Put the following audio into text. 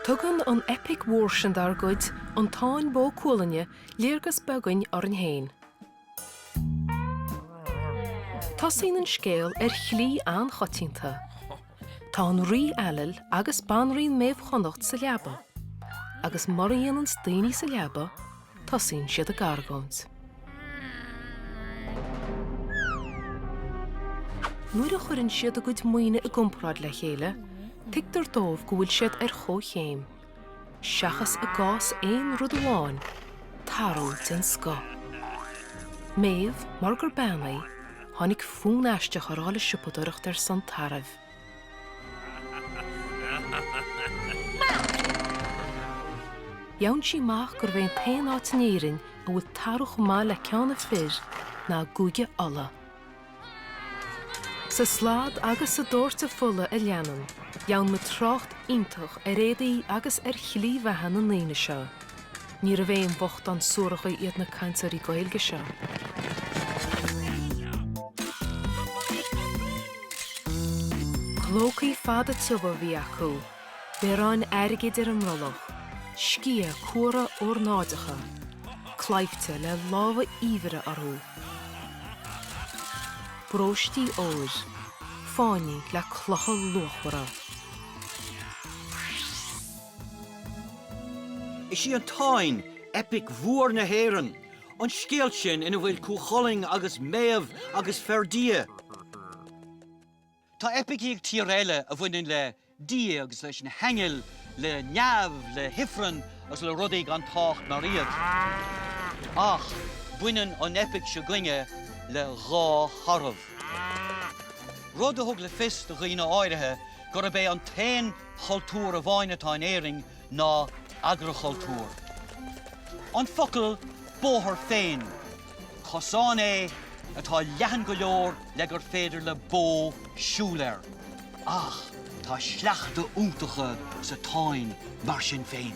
Tugann an eipic mhór sin dár gcuid, an Táin Bó Cúailnge, léargas beag dúinn orainn féin. Tosaíonn an scéal ar shlí an-choitianta. Tá an Rí Ailill agus Banríon Méabh Chonnacht sa leaba, agus murab ionann is daoine sa leaba Tosaíonn siad ag argóint. Nuair a chuireann siad a gcuid maoine i gcomparáid le chéile, tuigtear dóibh go bhfuil siad ar chomhchéim, seachas i gcás aon rud amháin, tarbh den scoth. Méabh, mar gur bean í, téann i bhfontar fástach dul le siopadóireacht ar son tarbh. Faigheann sí amach gurbh é an t-aon áit in Éirinn a bhfuil tarbh chomh maith le ceann a fir ná i gCúige Uladh. Sa slad agus sa doirteadh fola a leanann, faigheann muid trácht iontach ar éadaí agus ar shlí bheatha na ndaoine seo. Níorbh aon bhochtáin suaracha iad na cainteoirí Gaeilge seo. Clócaí fada tiubha a bhí acu, bioráin airgid ar a mbrollach, sciatha cuara ornáideacha, claimhte le lámha eabhair orthu, bróistí óir, fáinní le clocha luachmhara. Is í an Táin eipic mhór na hÉireann, an scéal sin ina bhfuil Cú Chulainn agus Méabh agus Ferdia. Tá eipicí ag tíortha eile a bhaineann le Dia agus leis na haingil, le neamh, le hifreann agus le rudaí gan tábhacht mar iad. Ach baineann an eipic s'againne le dhá tharbh, rud a thug le fios do dhaoine áirithe gurb é an t-aon chultúr amháin atá in Éirinn ná agrachultúr. An focal 'bóthar' féin, cosán é atá leathan go leor le gur féidir le bó siúl air, ach tá sleachta iontacha sa Táin mar sin féin.